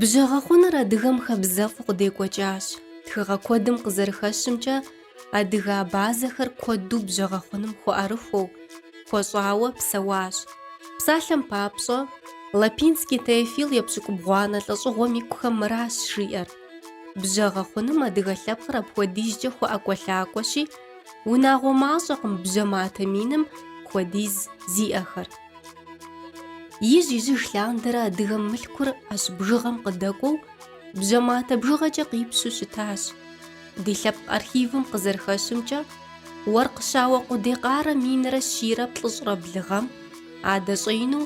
Бжьэгъэхъуныр адыгэм хабзэфӏу къыдекӏуэкӏащ. Тхыгъэ куэдым къызэрыхэщымкӏэ, адыгэ абазэхэр куэду бжьэгъэхъуным хуэӏэрыхуэу, хуэщӏауэ псэуащ. Псалъэм папщӏэ, Лапинский Теофил епщыкӏубгъуанэ лӏэщӏыгъуэм икухэм мыращ жиӏэр, Бжьэгъэхъуным адыгэ лъэпкъыр апхуэдизкӏэ хуэӏэкӏуэлъакӏуэщи, унагъуэ мащӏэкъым бжьэ матэ миным хуэдиз зиӏэхэр. Ижь-ижьыж лъандэрэ адыгэм мылъкур ӏэщ бжыгъэм къыдэкӏуэу, бжьэ матэ бжыгъэкӏэ къипщу щытащ. Ди лъэпкъ архивым къызэрыхэщымкӏэ, Уэркъ щауэ Къудей Къарэ минрэ щийрэ плӏыщӏрэ блы гъэм, адэ щӏеину,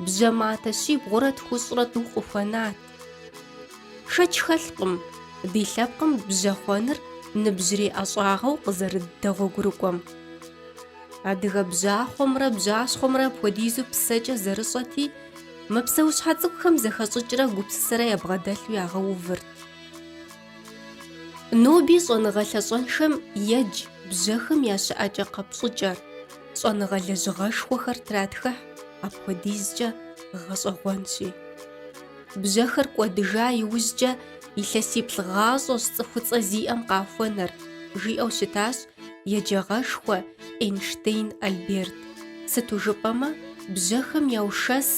бжьэ матэ щибгъурэ тхущӏрэ тӏу къыхуэнат. Шэч хэлъкъым ди лъэпкъым бжьэ хъуэныр ныбжьрей ӏэщӏагъэу къызэрыдэгъуэгурыкӏуэм. Адыгэ бжьахъуэмрэ бжьащхъуэмрэ апхуэдизу псэкӏэ зэрыщӏэти, мы псэущхьэ цӏыкӏухэм зэхэщӏыкӏрэ гупсысэрэ ябгъэдэлъу ягъэувырт. Ноби щӏэныгъэ лъащӏэншэм едж бжьэхэм я щыӏэкӏэ-къэпщӏыкӏэр, щӏэныгъэ лэжьыгъэшхуэхэр тратхыхь, апхуэдизкӏэ гъэщӏэгъуэнщи. Бжьэхэр кӏуэдыжа иужькӏэ илъэсиплӏ гъащӏэщ цӏыхуцӏэ зиӏэм къахуэнэр, жиӏэу щытащ еджагъэшхуэ Эйнштейн Альберт, сыту жыпӏэмэ бжьэхэм яушэс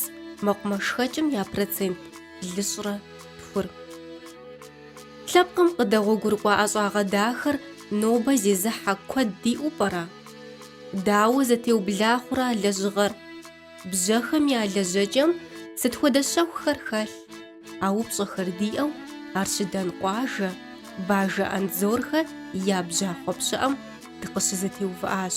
мэкъумэшхэкӏым я процент блыщӏрэ тхур. Лъэпкъым къыдэгъуэгурыкӏуа ӏэщӏагъэ дахэр нобэ зезыхьэ куэд диӏэу пӏэрэ? Дауэ зэтеубла хъурэ а лэжьыгъэр? Бжьэхэм я лэжьэкӏэм сыт хуэдэ щэхухэр хэлъ? А упщӏэхэр диӏэу Арщыдан къуажэ, Бажэ Андзорхэ я бжьахъуэ пщыӏэм дыкъыщызэтеувыӏащ.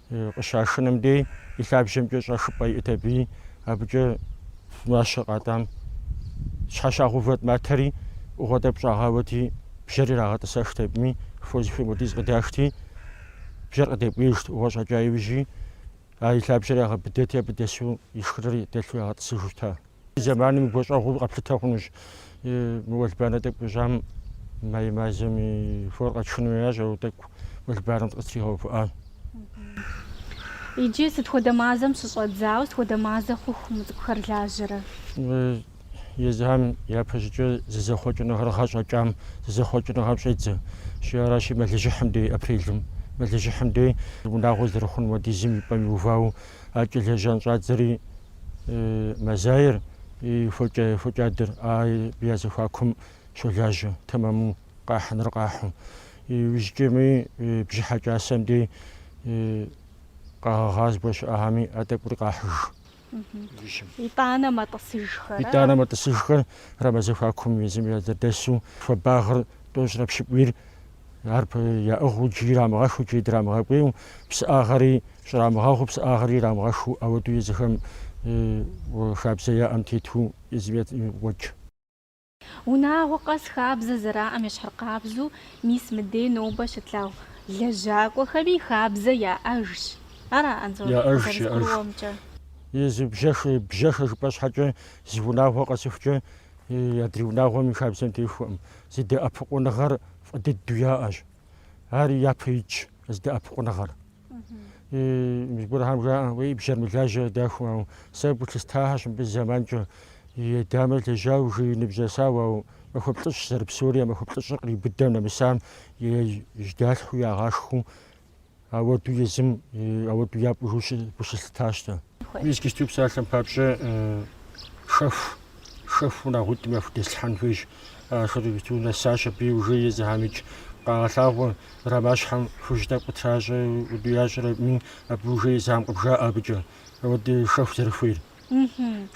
къыщашыным дей и лъабжьэмкӏэ щӏэшыпӏэ иӏт абыи, абыкӏэ мащэ къатӏам щхьэщагъэувэт матэри ӏугъуэ тӏэкӏу щӏагъауэти, бжьэр ирагъэтӏысэхт абыми, фо зыхуей хуэдиз къыдашти, бжьэр къыдэкӏуеижт, ӏугъуэ щӏэкӏа иужьи, а и лъабжьэр ягъэбыдэти, абы дэсу и шхыныр дэлъу ягъэтӏысыжу щыта. Зэманым и гуащӏэгъуэу къэплъытэ хъунущ. Мы уэлбанэ тӏэкӏу къищӏам май мазэм и фор къэтшын хуеящ, ауэ тӏэкӏу уэлбанэм дыкъытригъэувыӏащ. Иджы сыт хуэдэ мазэм щыщӏэдзауэ, сыт хуэдэ мазэ хъуху мы цӏыкӏухэр лажьэрэ? Езыхэм япэщӏыкӏэ зызэхъуэкӏыныгъэр гъэщӏэкӏам зызэхъуэкӏыныгъэм щӏедзэ. Щи аращи, мэлыжьыхьым дей, апрелым, мэлыжьыхьым дей, унагъуэ зэрыхъун хуэдизым и пӏэм иувауэ, акӏэ лэжьэн щӏадзэри Мазаерэ фокӏадэрэ я зэхуакум щолажьэ, тэмэму къахьыныр къахьу. Иужькӏэми бжьыхьэ кӏасэм дей къэгъэгъа зыгуэр щыӏэхэми а тӏэкӏури къахьыж. Итӏанэ мэтӏысыжхэр. Итӏанэ мэтӏысыжхэр рамэ зэхуакум езым зэдэсу хуабагъыр тӏощӏрэ пщыкӏуийр Ар яӏыгъыу икӏи ирамыгъэхыу, икӏи драмыгъэкӏуейу, псыӏагъэри щӏрамыгъэгъуу, псыӏагъэри ирамыгъэхыу, ауэдэу езыхэм хабзэ яӏэм тету зыми уэдж. Унагъуэ къэс хабзэ зэраӏэм ещхьыркъабзэу мис мыдей нобэ щытлъагъу лэжьакӏуэхэми хабзэ яӏэжщ. Ара, Анзор, зэрызгурыӏуэмкӏэ? Езы бжьэхэ, бжьэхэ жыпӏэ щхьэкӏэ зы унагъуэ къэсыхукӏэ адрей унагъуэм и хабзэм техуэкъым. Зэдэӏэпыкъуныгъэр фӏы дыдэу яӏэщ. Ар япэ итщ зэдэӏэпыкъуныгъэр. Зыгуэрхэм жаӏэ, уей бжьэр мэлажьэ дахэу, ау сэ гулъыстахьэщ мыбы зэманкӏэ. И дамэр лэжьау жей ныбжь нэсауэ, ау махуэ плӏыщӏ зэрыпсэури, а махуэ плӏыщӏыр кърибыдэм нэмысам, жьэдалъхьэу ягъашхэу Ауэду езым ауэду япӏыжу гу щылъыттащ дэ. Мис иджыпсту псалъэм папщӏэ шэху, шэху унагъуитӏым яхудэслъхьэн хуейщ. Ахэр нэсащ абы и ужэ езыхэмикӏ къагъэлъагъуэ, рамэщхьэм хужь тӏэкӏу къытращӏэ, уду ящӏэрэми абы ужэ езыхэм къыбжаӏэ абыкӏэ ауэдэ шэху зэрыхуейр.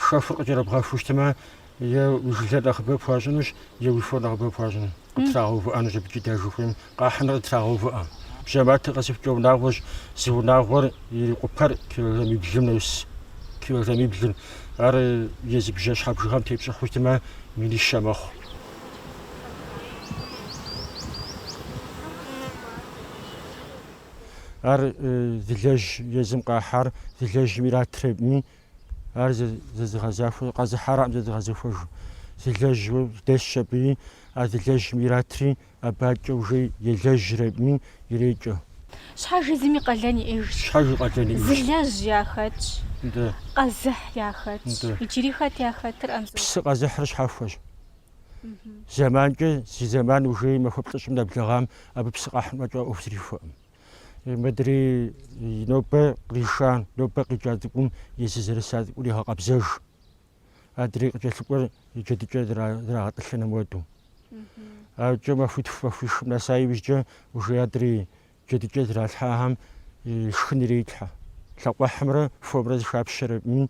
Шэхур къыкӏэрыбгъэхыу щытмэ, е уи жылэр нэхъыбэ пхуащӏынущ, е уи фор нэхъыбэ пхуащӏын, къыптрагъэувыӏэнущ абыкӏи дэ жыхуейм, къахьыныр къытрагъэувыӏэ. Бжьэматэ къэсыхукӏэ унагъуэщ, зы унагъуэр ирикъупэр килограммиблым нэс, килограммиблым. Ар езы бжьэщхьэ бжыгъэм тепщӏыхьу щытмэ, минищэ мэхъу. Ар зылэжь езым къахьар зылэжьым иратрэми, ар зэзыгъэзахуэ къэзыхьаракъым зэзыгъэзэхуэжу. Зылэжь дэсщ абыи, а зылэжьым иратри абыкӏэ ужей елэжьрэми ирекӏэ. Щхьэж езым и къалэн иӏэжщ. Щхьэж и къалэн иӏэжщ. Зылэжь яхэтщ. Дэ. Къэзыхь яхэтщ. Дэ. Иджыри хэт яхэтыр, Анзор? Псы къэзыхьыр щхьэхуэщ. Зэманкӏэ зи зэман ужей махуэ плӏыщӏым нэблэгъам абы псы къэхьын фӏэкӏа ӏуэху зэрихуэкъым. Мыдрей нобэ къриша, нобэ къикӏа цӏыкӏум езы зэрыса цӏыкӏур егъэкъэбзэж. Адрей къыкӏэлъыкӏуэр и джэдыкӏэ зрагъэтӏылъыным уэду. Абыкӏэ махуитху махуишым нэса иужькӏэ ужей адрей джэдыкӏэ зралъхьахэм шхын ирелъхьэ. Лъакъуэхьымрэ фомрэ зэхапщэрэми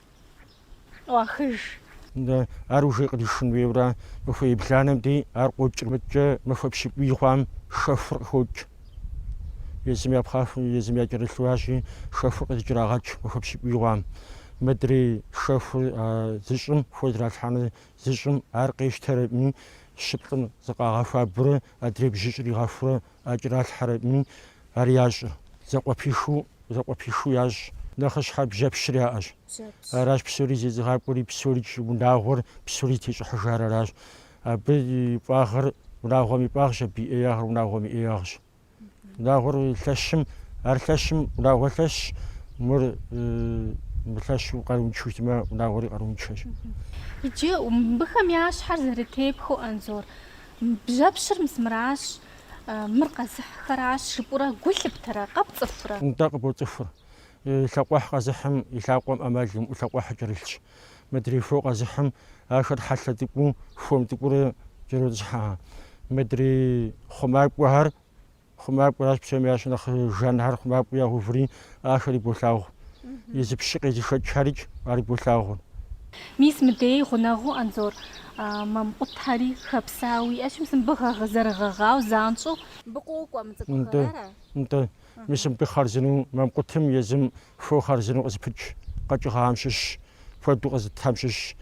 ӏуахыж. Ар ужей къыришын хуейуэ ара? Махуэ ебланэм дей ар къокӏри мыдкӏэ махуэ пщыкӏуий хъуам шэхур къыхокӏ. Езым я пхъаху, езым я кӏэрылъу арщи, шэхур къызыкӏэрагъэкӏ махуэ пщыкӏуий хъуам. Мыдрей шэхур а зыщӏым хуэзэралъхьэну зыщӏым ар къещтэрэми, щыплӏым зыкъагъэхуабэурэ адрей бжьыщӏ иригъэхурэ А кӏэралъхьэрэми ар ящӏыр. Зэкъуэпихыу, зэкъуэпихыу ящӏ. Нэхъыщхьэр бжьэпщыр яӏэщ. Аращ псори зезыгъакӏуэри, псорикӏ унагъуэр, псори тещӏыхьыжар аращ. Абы и фӏагъыр унагъуэм и фӏагъщ, абы и ӏеягъыр унагъуэм и ӏеягъщ. Унагъуэр лъэщым, ар лъэщым унагъуэр лъэщщ, мыр мылъэщу къарууншэу щытмэ, унагъуэри къарууншэщ. Иджы мыбыхэм я щхьэр зэрытепхыу, Анзор, Бжьэпщыр мис мыращ, мыр къэзыхьхэращ, жыпӏурэ гу лъыптэрэ, къэпцӏыхурэ. Нтӏэ, къыбоцӏыхур. Лъакъуэхь къэзыхьым и лъакъуэм ӏэмал имыӏэу лъакъуэхьыр кӏэрылъщ. Мыдрей хуэу къэзыхьым ахэр хьэлъэ тӏыкӏуу, хуэм тӏыкӏуурэ кӏэротӏысхьэ. Мыдрей хъумакӏуэхэр. Хъумакӏуэращ псоми ящӏ нэхъ жанхэр хъумакӏуэ ягъэуври, ахэри болъагъу. Езы пщы къезышэкӏхэрикӏ, ари болъагъу. Мис мыдей гъунэгъуу Анзор мамкъутхьэри хэпсауэ уиӏэщ, мис мыбы гъэгъ зэрыгъэгъауэ занщӏэу. Мыбы кӏуэуэ кӏуа мы цӏыкӏухэр ара? Нтӏэ. Мис мыбы хъарзыну мамкъутым езым фо хъарзыну къызыпыкӏ къэкӏыгъэхьэм щыщщ, куэду къэзытхэм щыщщ,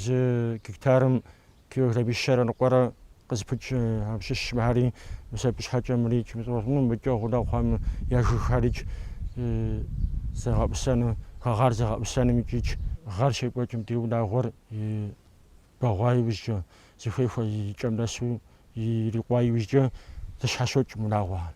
зы гектарым Килограммищэрэ ныкъуэрэ къызыпыкӏ абы щыщщ мыхьэри, мисэ пщхьэкӏэмри, чымыцӏуэсӏуну мыкӏэ гъунэгъу хъуам я жыгхэрикӏ зэгъэӏусэну, хэгъар зэгъэӏусэным икӏикӏ. Гъэр щекӏуэкӏым ди унагъуэр бэгъуа иужькӏэ, зыхуей хуэ и кӏэм нэсу ирикъуа иужькӏэ зэщхьэщокӏ унагъуэхэр.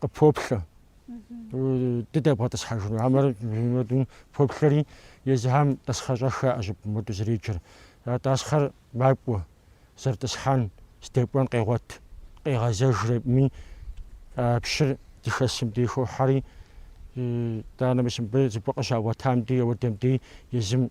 къыпоплъэ. Дыдэбгъэтӏысхьэжыну. Амэр моду поплъэри, езыхэм тӏасхъэщӏэх яӏэщи моду зэреджэр. А тӏасхъэр макӏуэ, зэрытӏысхьэн, здэкӏуэн къегъуэт, къегъэзэжрэми а пщыр здыхэсым дей хохьэри, итӏанэ мис мыбы зыгуэр къыщагъуэтам дей, ауэдэм дей езым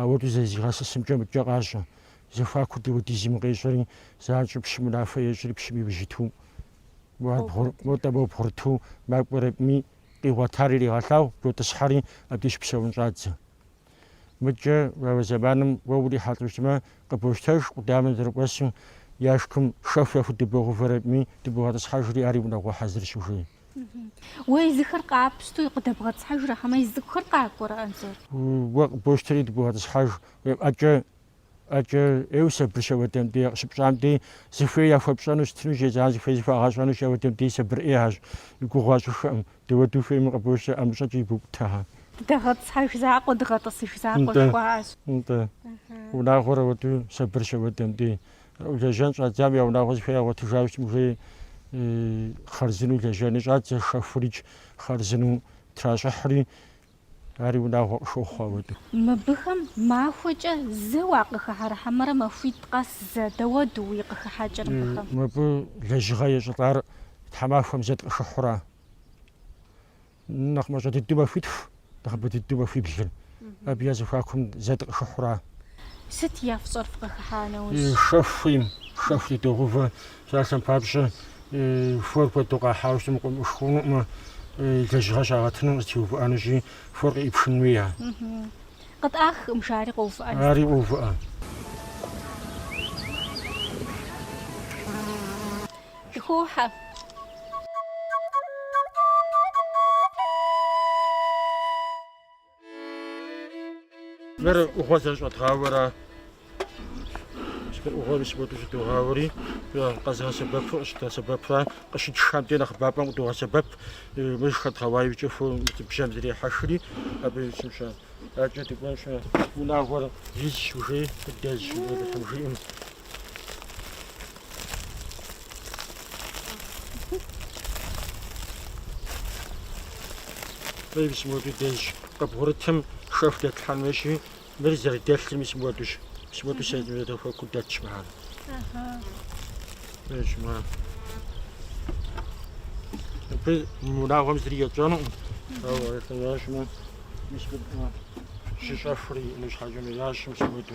Ауэду зэрызигъэсысымкӏэ мыдкӏэ къащӏэ, зэхуакур дауэдизми къещӏэри, занщӏэу пщым унафэ ещӏри пщым иужь иту, модэ мо бгъурыту макӏуэрэкӏми, къигъуэтар иригъэлъагъу, дотӏысхьэри, абдеж псэун щӏадзэ. Мыдкӏэ а зэманым уэ урихьэлӏ ущытмэ, къыбощтэж къудамэм зэрыкӏуэсу, яшикым шэху яхудыбогъувэрэкӏми, дыбогъэтӏысхьэжри, ари унагъуэ хьэзырщ ужей. Уэ езыхэр къапщтэу къыдэбгъэтӏысхьэжрэ, хьэмэ езы цӏыкӏухэр къакӏуэрэ, Анзор? Уэ къыбощтэри дыбогъэтӏысхьэж, уи ӏэкӏэ, ӏэкӏэ, ӏейуэ сабырщ ауэдэм дей къыщыпщӏам дей, зыхуей яхуэпщӏэну щытынущ, езыхэр зыхуей зыхуагъэщӏэнущ ауэдэм дей сабыр ӏейхьэщ, уи гугъу ящӏыххэкъым, дауэду хуейми къыбощтэ, ӏэмыщӏэкӏэ ибукӏутэ. Дыдэгъэтӏысхьэж закъуэ, дыгъэтӏысыж закъуэ, жыхуаӏэщ. Нтӏэ, нтӏэ, унагъуэр ауэду сабырщ ауэдэм дей, Лэжьэн щӏадзам я унагъуэ зыхуей ягъуэтыжа щытым ужей хъарзыну лэжьэн щӏадзэ шэхурикӏ хъарзыну тращӏыхьри, ари унагъуэ къыхохъуэ ауэдэу. Мыбыхэм махуэкӏэ зэ уакъыхыхьэрэ хьэмэрэ махуитӏ къэс зэ, дауэду уи къыхыхьэкӏэр мыбыхэм? Мыбы лэжьыгъэ ещӏылӏар тхьэмахуэм зэ дыкъыхыхьура? Нэхъ мащӏэ дыдэу махуитху, нэхъыбэ дыдэу махуиблыр. Абы я зэхуакум зэ дыкъыхыхьура? Сыт я фщӏэр фкъыхыхьа нэужь? Шэху хуейм, шэху дыдогъувэ. Псалъэм папщӏэ, хуэр куэду къахьауэ щытым къыӏумыхыу хъунукъымэ, лэжьыгъэ щагъэтыну къызэтеувыӏэнущи, хуэр къыӏипхын хуея? Къытӏах, мж ари къоувыӏэн. Ари къоувыӏэ. Дыхохьэ. Мыр ӏугъуэр зэрыщӏэдгъауэра? Мыр ӏугъуэри сыгуэкӏи щӏыдогъауэри, къэзыгъэсэбэпу къыщыдгъэсэбэпра, къыщытшхэмкӏэ нэхъыбапӏэм къыдогъэсэбэп. Мыр хэдгъэуа иужькӏэ фо бжьэм зрехьэхри, абы щымщӏэ. Адэкӏэ дыкӏуэнщ, унагъуэр изщ, ужей къыдэзщ, жиӏэм жиӏэм. Мис муэду дэзщ. Къыбгъурытым шэху дэтлъхьэн хуейщи, мыр зэрыдэлъыр мис муэдущ. Мис муэду зэхуаку дэтщ мыхьэр. Дэтщ мыхьэр. Абы унагъуэм зыри етщӏэнукъым. Ауэ арэтэнащ мы. Мис щыщӏэхури ину щхьэкӏэ мыящ мис муэду.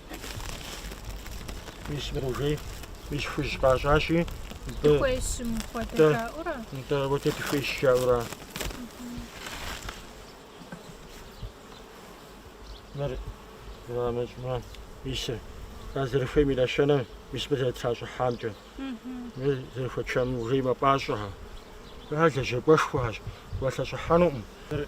Мис мыр ужей, мис хужь къащӏащи, нтӏэ, Дыхуейщ мыхуэдэ Да. жаӏэурэ. нтӏэ ауэдэ дыхуейщ жаӏэура. Мыр зрамэщӏмэ, мис а зэрыхуейм и нэщэнэм, мис мыр зэрытращӏыхьамкӏэ. Мыр зэрыхуэчам ужей мапӏащӏэхэ. Ар лэжьакӏуэшхуэхьэщ, уалъэщӏыхьэнукъым. Мыр, э,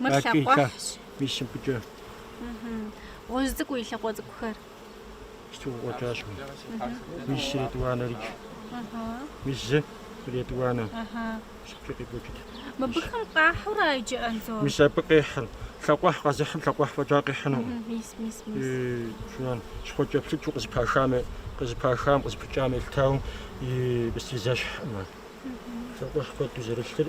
Мыр Бакий лъакъуэхьщ. лъахъ мис мыбыкӏэ Мгм. Гъуэжь цӏыкӏуу и лъакъуэ цӏыкӏухэр. стыукъуэкӏащ. Мис сретӏуанэрикӏ. Ыхьы. Мис зы къыретӏуанэ. Ыхьы. Сыткӏэ къекӏуэкӏыт. Мыбыхэм къахьура иджы Анзор? Мис абы къехьыр. Лъакъуэхь къэзыхьым лъакъуэхь фӏэкӏа къихьыну. Мгм. Мис, мис, мис. И жан щхъуэкӏэплъыкӏэу къызыпахам, къызыпахам, къызыпыкӏам елъытауэ псори зэщхькъым. Лъакъуэхь куэду зэрылъыр.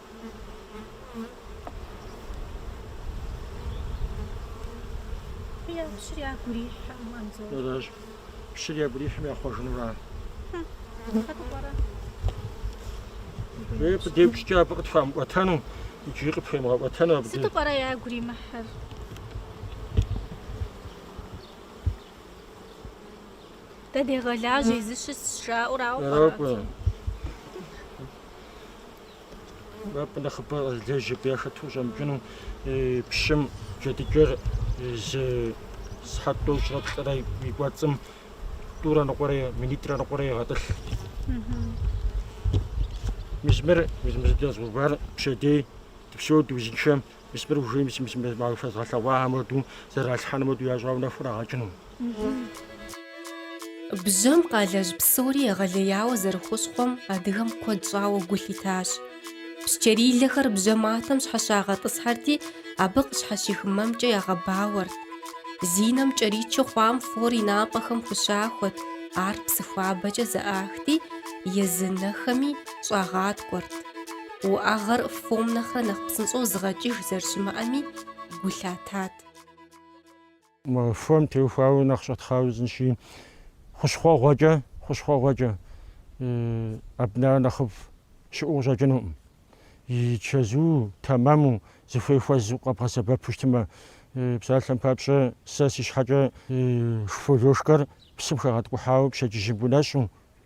Пщыр ягу ирихьым, Анзор. Аращ. Пщыр ягу ирихьым яхъуэжынура? Хэкӏуэ пӏэрэ? Уи къыдеупщӏкӏэ абы къытхуамыӏуэтэну, иджыри къыпхуемыгъэӏуэтэну абы. Сыту пӏэрэ ягу иримыхьыр? Дэ дегъэлажьэ, езы щысщ жаӏэу арауэ пӏэрэ? Аракӏуэ. нэхъыбэ зылэжь абы яхэту щӏэмыкӏыну пщым джэдыкӏэр зы сыхьэт тӏощӏрэ плӏырэ и кӏуэцӏым тӏурэ ныкъуэрэ минитӏрэ ныкъуэрэ егъэтӏылъ. Мис мыр мы зы дэзгъэувар пщэдей дыпсэу дыузыншэм Мис мыр ужыным зи мызым дэс махуэ фэзгъэлъэгъуахэм хуэдэу, зэралъхьэнум хуэдэу ящӏауэ нэху ирагъэкӏыну. Бжьэм къалэжь псори егъэлеяуэ зэрыхущхъуэм адыгэм куэд щӏауэ гу лъитащ. Псчэрилэхэр бжьэ матэм щхьэщагъэтӏысхьэрти, абы къыщхьэщих мэмкӏэ ягъэбауэрт. Зи нэм кӏэричу хъуам фор и напӏэхэм хущахуэт, ар псыхуабэкӏэ зэӏахти, езы нэхэми щӏагъаткӏуэрт. Уӏэгъэр фом нэхърэ нэхъ псынщӏэу зыгъэкӏыж зэрыщымыӏэми, гу лъатат. Мы фом теухуауэ нэхъ щӏэтхъауэ узынщи, хущхъуэгъуэкӏэ, хущхъуэгъуэкӏэ абы нэхъ нэхъыфӏ щыӏэу къыщӏэкӏынукъым. И чэзу, тэмэму, зыхуей хуэзу къэбгъэсэбэпу щытмэ, псалъэм папщӏэ, сэ си щхьэкӏэ зы фо лошкэр псым хэгъэткӏухьауэ пщэдджыжьым гунэщӏу,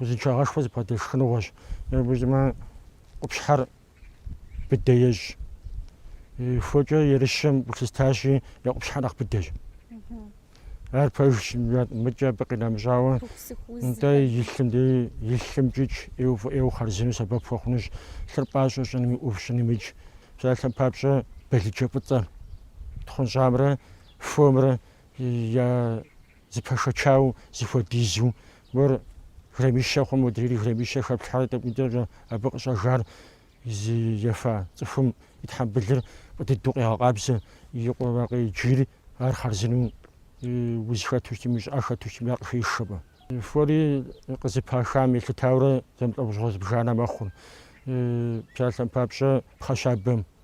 Узыншагъэшхуэ зыбгъэдэлъ шхыныгъуэщ. Ебжьмэ, къупщхьэр быдэ ещӏ. Фокӏэ ерыщхэм гу лъыстащи, я къупщхьэр нэхъ быдэщ. Ар пэжщ, мыкӏэ абы къинэмыщӏауэ, нтӏэ и лъымкӏикӏ ӏейуэ хъарзыну сэбэп хуэхъунущ, лъыр пӏащӏэу щӏыными ӏув щӏынымикӏ. Псалъэм папщӏэ, балыджэ фӏыцӏэр, тхъунщӏамрэ фомрэ я Зэпэшэчауэ зэхуэдизу, мор граммищэ хъумэ, модрейри граммищэ хэплъхьэрэ тӏэкӏунитӏэкӏэ абы къыщӏэжар зи ефа цӏыхум и тхьэмбылыр фӏы дыдэу къегъэкъабзэ, и къуэрэ къеджийри ар хъарзынэу уз хэту щытми, щӏыӏэ хэту щытми ар къыхеш. Фори къызыпахам елъытауэрэ зэмылӏэужьыгъуэ зыбжанэ мэхъур. Псалъэм папщӏэ, пхъэщабэм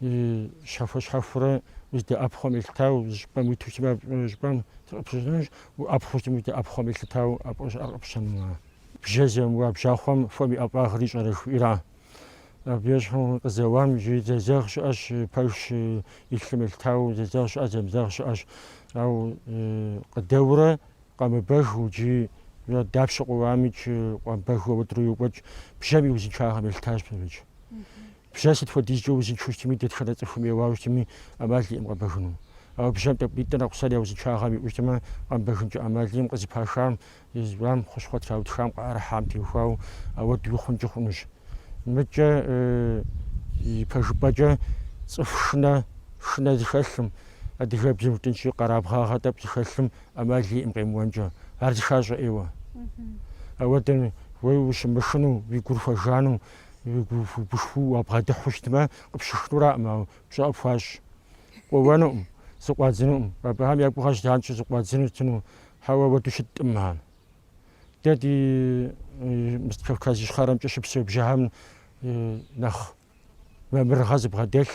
И щхьэхуэ-щхьэхуэурэ дэ ӏэпхъуэм елъытау зы щӏыпӏэм уиту сымэ щӏыпӏэм сыкъыпщыщӏынущ, ӏэпхъур сымэ дэ ӏэпхъуэм елъытау ӏэпӏэ щӏыӏэр къыпщэнумэ. Бжьэ зэмыуа бжьахъуэм фом и ӏэфӏагъыр ищӏэрэ жыхуиӏэра? Абы ещхьу къызэуам жи зэзэгъ щыӏэщ, пэжщ, и лъым елъытау зэзэгъ щыӏэ, зэмызэгъ щыӏэщ. Ау къыдэуэрэ къэмыбэгыу джы дапщэ къоуамикӏ, къэмыбэгыу ауэдэурэ йокӏуэкӏ, бжьэм и узыншагъэм елъытащ псорикӏ. Бжьэ сыт хуэдизкӏэ узыншэу щытми, дэтхэнэ цӏыхум еуауэ щытми, ӏэмал иӏэкъым къэбэгыну. Ауэ бжьэм тӏэкӏуитӏэ а кусар я узыншагъэм иӏэу щытмэ, къэмыбэгынкӏэ ӏэмал иӏэкъым, къызыпашам, изыщӏам, хущхъуэ траутхам, къыӏэрыхьам теухуауэ ауэду хъункӏи хъунущ. Мыдкӏэ ипэжыпӏэкӏэ цӏыху шынэ, шынэ зыхэлъым, адыгэбзэм жытӏэнщи, къэрабгъагъэ тӏэкӏу зыхэлъым ӏэмал иӏэкъым къемыуэнкӏэ, ар зыхащӏэ ӏейуэ. Ауэдэм уэ ущымышыну, уи гур хуэжану, Гушхуэу уабгъэдыхьу щытмэ, къыпщышынураӏым, ауэ пщӏэ къыпхуащӏ. Къоуэнукъым, зыкъуадзынукъым. Абыхэм я гугъэщ занщӏэу зыкъуадзыну щытыну. Хьэуэ, ауэдэу щыткъым ар. Дэ ди Кавказ Ищхъэрэмкӏэ щыпсэу бжьэхэм нэхъ мамырыгъэ зыбгъэдэлъ,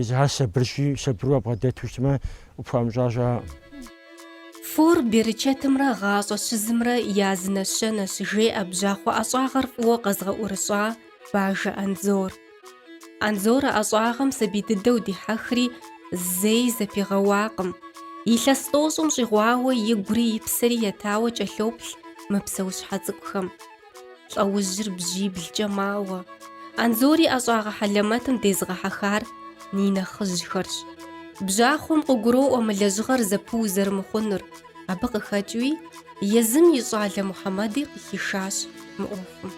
Езыхэр сабырщи, сабыру уабгъэдэту щытмэ, къыпхуамыщӏа щыӏэкъым. Фор берычэтымрэ гъащӏэ щызымрэ я зы нэщэнэщ, жеӏэ бжьахъуэ ӏэщӏагъэр фӏыуэ къэзыгъэӏурыщӏа Бажэ Анзор. Анзор а ӏэщӏагъэм сабий дыдэу дихьэхри, зэи зэпигъэуакъым. Илъэс тӏощӏым щӏигъуауэ игури и псэри етауэ кӏэлъоплъ мы псэущхьэ цӏыкӏухэм. Лӏэужьыр бжьиблкӏэ мауэ. Анзори ӏэщӏагъэ хьэлэмэтым дезыгъэхьэхар и нэхъыжьхэрщ. Бжьахъуэм къыгуроӏуэ мы лэжьыгъэр зэпыу зэрымыхъунур, абы къыхэкӏыуи езым и щӏалэ Мухьэмэди къыхишащ мы ӏуэхум.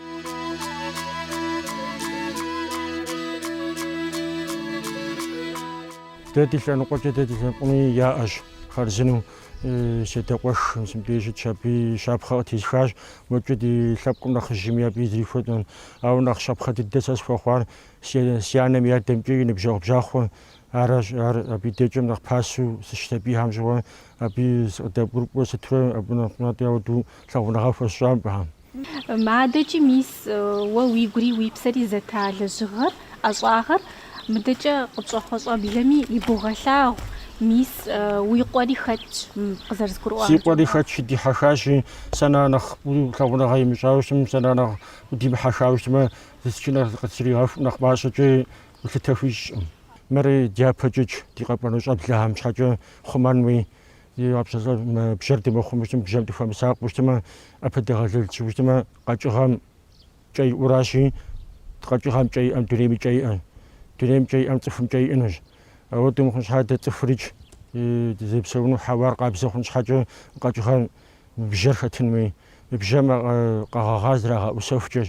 Дэ ди лъэныкъуэкӏэ дэ ди лъэныкъуэми яӏэщ хъарзынэу. Си адэ къуэш мыбдеж щытщ, абы и щапхъэ къытесхащ. Уэкӏэ ди лъэпкъым нэхъыжьми абы зэрихуэт. Ауэ нэхъ щапхъэ дыдэ сэ схуэхъуар си анэм и адэмкӏэ и ныбжьэгъу бжьахъуэ аращ. Ар абы и дежкӏэ нэхъ пасэу сыщысабийхэм щыгъуэ абы сыкъыдэбгурыкӏуэ сытурэ абы нэхъ натӏэ ауэдэу лъагъуныгъэ хуэсщӏа мыбыхэм. Мы адэкӏи, мис, уэ уигури уи псэри зэпта лэжьыгъэр, ӏэщӏагъэр мыдэкӏэ къытщӏэхъуэ щӏэблэми ибогъэлъагъу, мис, уи къуэри хэтщ къызэрызгурыӏуам. Си къуэри хэтщ, дихьэхащи, сэ нэхърэ нэхъ лъагъуныгъэ имыщӏауэ щытмэ, сэ нэхърэ нэхъ димыхьэхауэ щытмэ, зысчынэр къыстригъэху, нэхъ мащӏэкӏэ гулъытэ хуищӏкъым. Мыри дяпэкӏэкӏ, ди къэкӏуэну щӏэблэхэм щхьэкӏэ хъумэнуи. Ди гъэпсэлӏэр мы бжьэр дымыхъумэу щытым, мы бжьэм дыхуэмысакъыу щытымэ, ӏэпэдэгъэлэл тщӏыуэ щытымэ, къэкӏыгъэм кӏэ иӏуращи, къэкӏыгъэм кӏэ иӏэм дунейм и кӏэ иӏэ. Дунейм кӏэ иӏэм цӏыхум кӏэ иӏэнущ. Ауэ дымыхъун щхьэ дэ цӏыхурикӏ дызэпсэуну хьэуар къабзэ хъун щхьэкӏэ къэкӏыгъэм мы бжьэр хэтын хуей, мы бжьэм къэгъэгъар зрагъэӏусэхукӏэщ.